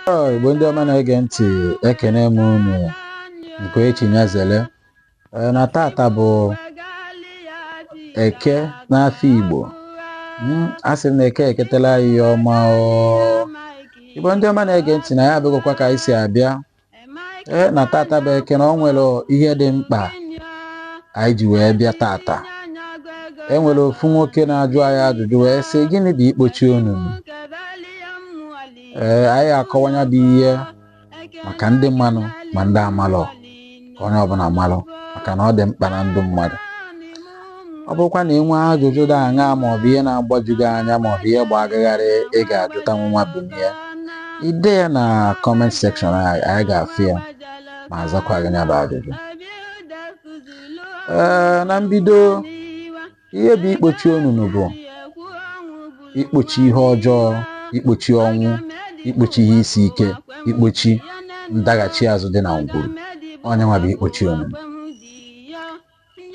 Ọ, Igbo ndị ọma na-ege ntị ekene m unu nke echi nyazele Ee, na tata bụ eke n'afịa Igbo Mm, asị m na eke eketela anyị ihe ọma o. Igbo ndị ọma na-ege ntị na anyị abịagokwa ka anyị si abịa ee na tata bụ eke na o nwere ihe dị mkpa anyị ji wee bịa tata e nwere ofu nwoke na-ajụ anyị ajụjụ wee sị gịnị bụ ikpochi onunu ee anyị akọwa nya bụ ihe maka ndị manụ ma ndị amalọ ka onye ọbụla malụ maka na ọ dị mkpa na ndụ mmadụ ọ bụrụkwa na ị nwee ajụjụ dị aṅa ma ọ bụ ihe na-agbaju gị anya ma ọ bụ ihe gba gị gharị ị ga-ajụta nwa bụ ya ide ya na comment section anyị anyị ga-afụ ya ma azakwa gị ya bụ ajụjụ ee na mbido ihe bụ ikpochi onunu bụ ikpochi ihe ọjọọ ikpochi ọnwụ ikpochi ihe isi ike ikpochi ndaghachi azụ dị na ngwuru ọ nya nwa bụ ikpochi onunu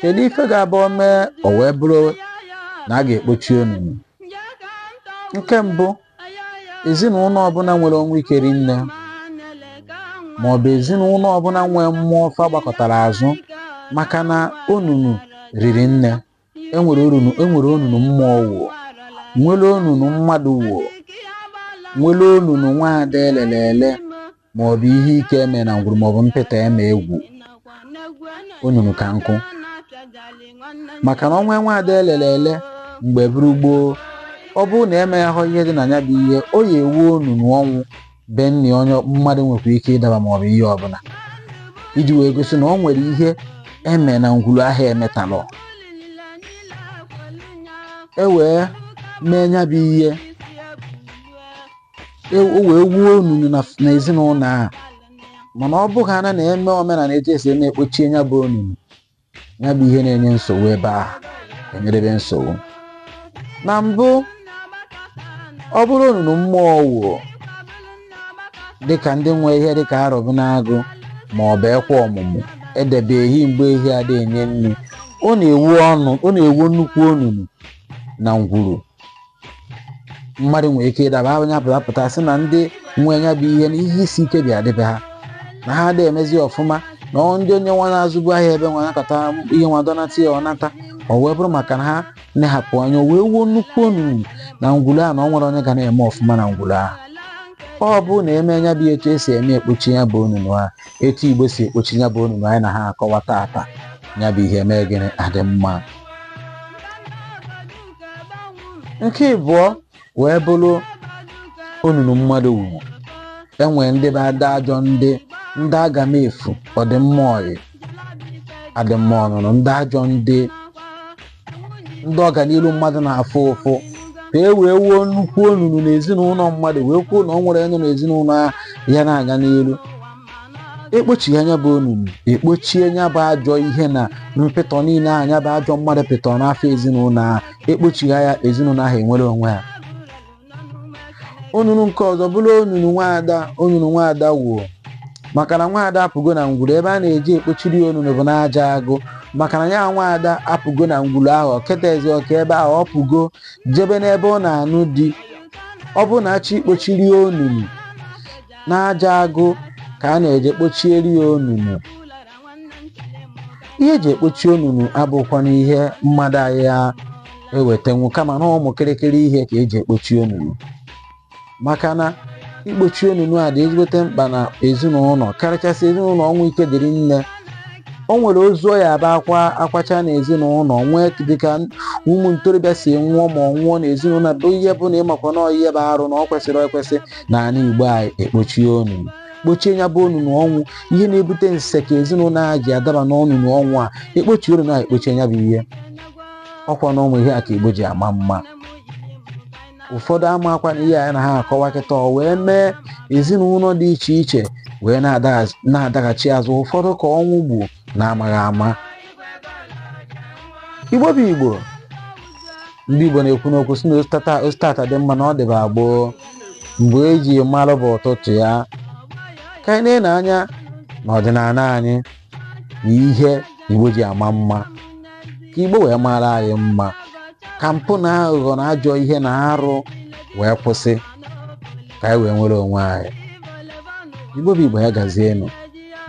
kedu ife ga-abụ o mee o wee bụrụ na a ga-ekpochi onunu nke mbụ ezinụlọ ọbụla nwere ọnwụ ike ri nne ma ọ bụ ezinụlọ ọbụla nwee mmụọ fa gbakọtara azụ maka na onunu riri nne enwere onunu mmụọ wuo nwere onunu mmadụ wuo nwere onunu nwaada elele ele ma ọ bụ ihe ike eme na ngwuru ma ọ bụ mpịta eme egwu onunu ka nkụ maka na ọnwa nwa ada elele ele mgbe bụrụ gboo ọ bụrụ na emeghahụ ihe dị na ya bụ ihe o ya ewu onunu ọnwụ be nne onye mmadụ nwekwa ike ịdaba ma ọ bụ ihe ọbụla iji wee gosi na o nwere ihe eme na ngwuru ahụ emetalụ e wee mee ya bụ ihe e, o wee wuo onunu na ezinụlọ a mana ọ bụghị ana na-eme omenala etu esi eme ekpochie ya bụ onunu ya bụ ihe na-enye nsogbu ebe a enyerebe nsogbu na mbụ ọ bụrụ onunu mmụọ wuo dịka ndị nwe ihe dịka arọbụnagụ ma ọ bụ ekwe ọmụmụ edebe ehi mgbe ehi adị enye nri ọ na-ewu ọnụ ọ na-ewu nnukwu onunu na ngwuru mmadụ nwere ike ịdaba anya pụta pụta sị na ndị nwe nya bụ ihe na ihe isi ike bịa dịbe ha na ha adịghị emezi ọfụma na ọ ndị onye nwa na-azụbu ahịa ebe nwa nakọta ihe nwa dọnata ya ọ nata ọ wee bụrụ maka na ha na-ehapụ anya o wee wuo nnukwu onunu na ngwulu a na ọ nwere onye ga na-eme ọfụma na ngwulu ahụ ọ bụ na eme nya bụ etu esi eme ekpochi ya bụ onunu a etu igbo si ekpochi ya bụ onunu anyị na-akọwa tata ya bụ ihe mee gịnị adị mma nke ịbụọ wee bụrụ onunu mmadụ wuru e nwere ndị bụ ndị ajọ ndị ndị aga m efu ọdịmma ọyị adịmma ọnụnụ ndị ajọ ndị ndị ọganiru mmadụ na-afụ ụfụ ka e wee wuo nnukwu onunu n'ezinụlọ mmadụ wee kwuo na ọ nwere onye n'ezinụlọ ya na-aga n'elu ekpochie nya bụ onunu ekpochie nya bụ ajọ ihe na mpịtọ niile nya bụ ajọ mmadụ pịtọ n'afọ ezinụlọ ahụ ekpochigha ya ezinụlọ ahụ enwere onwe ya onunu nke ọzọ bụrụ onunu nwaada onunu nwaada wuo maka na nwaada apụgo na ngwuru ebe a na-eji ekpochiri ya onunu bụ n'aja agụ maka na ya nwaada apụgo na ngwuru ahụ o ketazi oke ebe ahụ ọ pụgo jebe n'ebe ọ na-anụ di ọ bụrụ na achọ ikpochiri ya onunu n'aja agụ ka a na-eje kpochieri ya onunu ihe eji ekpochi onunu abụkwana ihe mmadụ ya ewetanwu kama na ụmụ kịrịkịrị ihe ka eji ekpochi onunu maka na ikpochi onunu a dị ezigbote mkpa na ezinụlọ karịchasị ezinụlọ ọnwụ ike dị rinne o nwere ozu ọ ya abụ akwa akwacha n'ezinụlọ nwee dịka ụmụ ntorobịa si nwụọ ma ọ nwụọ n'ezinụlọ bụ ihe bụ na ịmakwa na ihe bụ arụ na ọ kwesịrọ ekwesị na ala igbo anyị ekpochie onunu kpochie ya bụ onunu ọnwụ ihe na-ebute nse ka ezinụlọ a ji adaba n'ọnụnụ ọnwụ a ekpochi onunu a ekpochie ya bụ ihe ọkwa na ụmụ ihe a ka igbo ji ama mma ụfọdụ amakwa na ihe anyị na-akọwa kịta ọ wee mee ezinụlọ dị iche iche wee na-adaghachi azụ ụfọdụ ka ọnwụ gbu na-amaghị ama igbo bụ igbo ndị igbo na-ekwu n'okwu si na o sita taa dị mma na ọ dịba gboo mgbe eji malụ bụ ụtụtụ ya ka anyị na-ele anya n'ọdịnala anyị na ihe igbo ji ama mma ka igbo wee mara anyị mma ka mpụ na aghụghọ na ajọ ihe na arụ wee kwụsị ka anyị wee nwere onwe anyị igbo bụ igbo ya gazienụ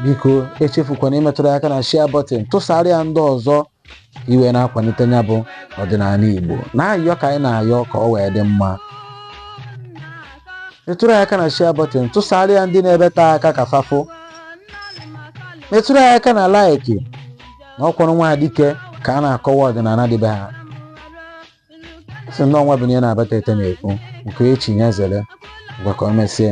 biko echefukwana imetụrụ ya aka na share button tụsara ya ndị ọzọ e wee na-akwalite ya bụ ọdịnala igbo na-ayọ ka anyị na-ayọ ka ọ wee dị mma metụrụ ya aka na share button tụsara ya ndị nọ ebe te aka ka fa fụ metụrụ ya aka na like na ọkwụrụ nwa dike ka a na-akọwa ọdịnala dị be ha si ndị ọnwa bụ na ya na-abata ete na-ekwu nke echi ya zere ngwa ka o mesie